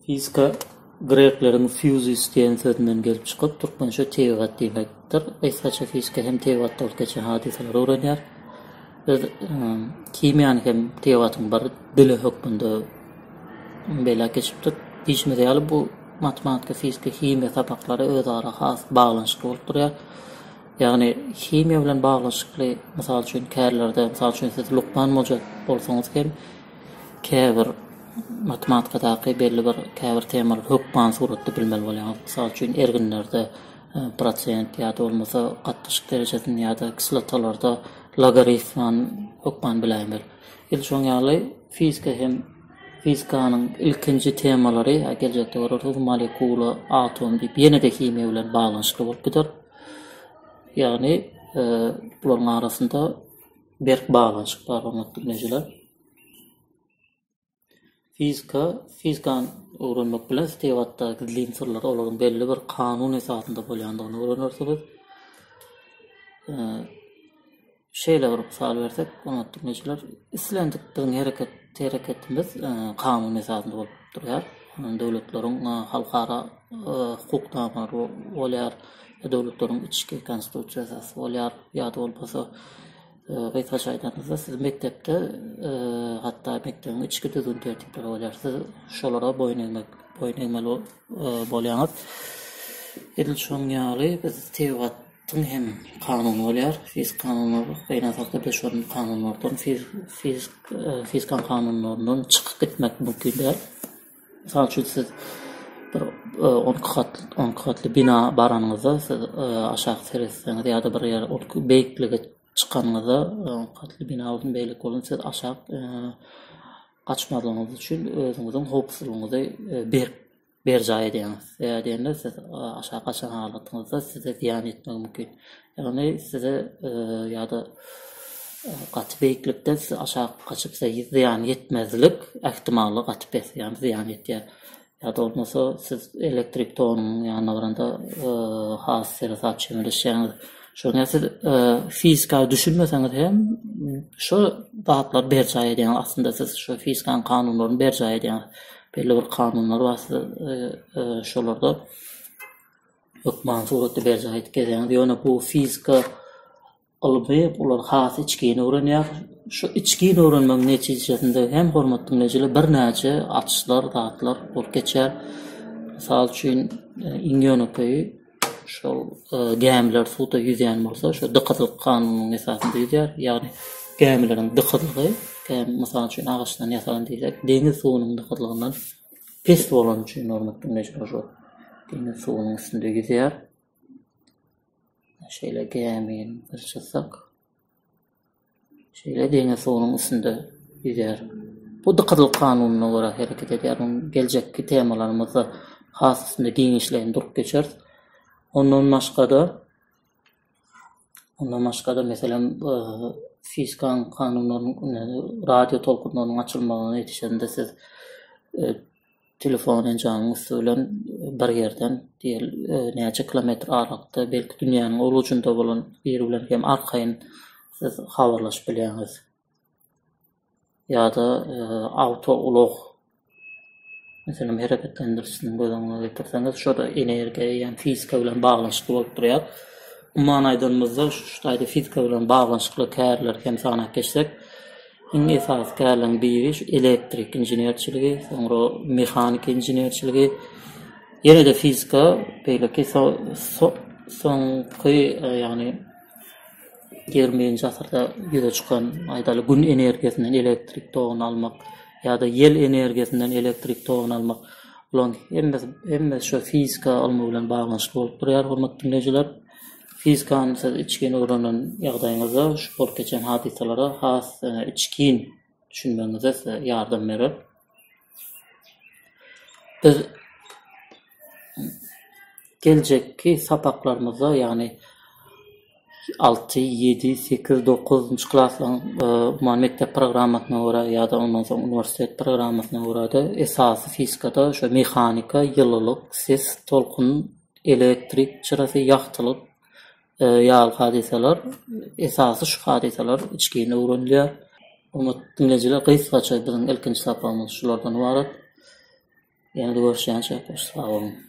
Fizika grekleriň fusis diýen sözünden gelip çykyp, türkmençe tebigat diýmekdir. Gysgaça fizika hem tebigatda bolup geçen hadysalary öwrenýär. Biz himiýany hem tebigatyň bir dili hökmünde belläp geçipdik. Diýşimiz ýaly, bu matematika, fizika, himiýa sapaklary özara has baglanyşykly bolup durýar. Ýagny himiýa bilen baglanyşykly, mysal üçin, kärlerde, mysal üçin, siz lukman boljak bolsaňyz hem, käbir matematikadaky belli bir käbir temalary hökman suratda bilmeli bolýaňyz. Mysal üçin, erginlerde prosent ýa-da bolmasa gatnaşyk derejesini ýa-da kislotalarda logaritmany hökman biläýmeli. Edil şoň ýaly fizika hem fizikanyň ilkinji temalary, a geljekde görersiňiz, molekula, atom diýip ýene-de himiýa bilen baglanyşykly bolup gider. Ýagny, bularyň arasynda Berk baglanyşyk bar hormatly dinleýjiler. Fizika, fizikany öwrenmek bilen tebigatda gizlin syrlar, olaryň belli bir kanun esasynda bolýandygyny öwrenersiňiz. Şeýle bir mysal bersek, hormatly dinleýjiler, islendik biziň hereket, hereketimiz kanun esasynda bolup durýar. Döwletleriň halkara hukuk namalary bolýar. Bu döwletleriň içki konstitusiýasy asy bolýar. Ýa-da bolmasa, gysgaça aýdanymyzda, siz mekdepde hatda mekdebiň içki düzgün-tertipleri bolýar. Siz şolara boýun egmek, boýun egmeli bolýaňyz. Edil şonuň ýaly biz tebigat Tüm hem kanun bolýar. Fizik kanunlar beýle hakda şonuň kanunlardan, fizik, e, fizikan kanunlaryndan çykyp gitmek mümkin däl. Mysal üçin, siz bir on iki gat, on iki gatly bina baranyňyzda, siz aşak seretseňiz ýa-da bir ýer ol beýiklige çykanyňyzda, on iki gatly bina bolsun, beýleki bolsun, siz aşak gaçmazlygyňyz üçin özüňiziň howpsuzlygyňyzy berk berjaý edýäňiz. Sebäbi diýende, siz aşak gaçan halatyňyzda size zyýan ýetmegi mümkin. Ýagny size ýa-da gaty beýiklikden size aşak gaçyp size zyýan ýetmezlik ähtimaly gaty pes, ýagny zyýan ýetýär. Ýa-da bolmasa siz elektrik togunyň ýanyna baranda has seresap çemeleşýäňiz. Şonda siz fizika düşünmeseňiz hem şo zatlary berjaý edýäňiz. Aslynda siz şo fizikanyň kanunlaryny berjaý edýäňiz. Belli bir kanunlar bar siz şolarda hökmany suratda berjaý edip gezeňiz. Ýöne bu fizika ylmy olar has içgin öwrenýär. Şu içgin öwrenmegiň netijesinde hem hormatly dinleýjiler birnäçe açyşlar, zatlar bolup geçýär. Mysal üçin, e, iň ýönekeýi şol e, gämiler suwda ýüzýän bolsa, şu dykyzlyk kanunynyň esasynda ýüzýär. Ýagny gämileriň dykyzlygy, gämi mysal üçin agaçdan ýasalan diýsek, deňiz suwunyň dykyzlygyndan Pes bolany üçin Nurmytdyň mejbur şol deňiz suwunyň üstünde ýüzýär. Şeýle gämini bir çyzsak. Şeýle deňiz suwunyň üstünde ýüzýär. Bu dykyzlyk kanunyna görä hereket edýär. Muny geljekki temalarymyzda has üstünde giňişleýin durup geçeris. Ondan başga-da, Ondan başga-da, meselem, fizikanyň kanunlarynyň, radio tolkunlarynyň açylmagyna ýetişende siz telefon enjamynyň üsti bilen bir ýerden, diýeli, näçe kilometr aralykda, belki dünýäniň ol ujunda bolan biri bilen hem arkaýyn siz habarlaşyp bilýäňiz. ýa-da awtoulag meselem hereketlendirişini göz öňüne getirseňiz, şo-da energiýa eýýäm fizika bilen baglanyşykly bolup durýar. Umuman aýdanymyzda, şu taýda fizika bilen baglanyşykly kärleri hem sanap geçsek, iň esasy kärleriň biri şu elektrik inženerçiligi, soňra mehanik inženerçiligi, ýene-de fizika, beýleki so-so soňky, ýagny Ýigrimi birinji asyrda ýüze çykan, aýdaly, Gün energiýasyndan elektrik toguny almak ýa-da ýel energiýasyndan elektrik toguny almak, bularyň hemmesi, hemmesi şu fizika ylmy bilen baglanyşykly bolup durýar, hormatly diňleýjiler. Fizikany siz içgin öwrenen ýagdaýyňyzda şu bolup geçen hadysalara has içgin düşünmegiňize size ýardam berer. Biz geljekki sapaklarymyzda, ýagny 6, 7, 8, 9-njy klaslaryň e, umuman mekdep programmasyna görä ýa-da ondan soň uniwersitet programmasyna görä-de esasy fizikada şu mehanika, ýylylyk, ses, tolkun, elektrik çyrasy, ýagtylyk ýaly hadysalar, esasy şu hadysalar içgin öwrenilýär. Hormatly diňleýjiler, gysgaça biziň ilkinji sapagymyz şulardan ybarat. Ýene-de görüşýänçä, hoş sag boluň!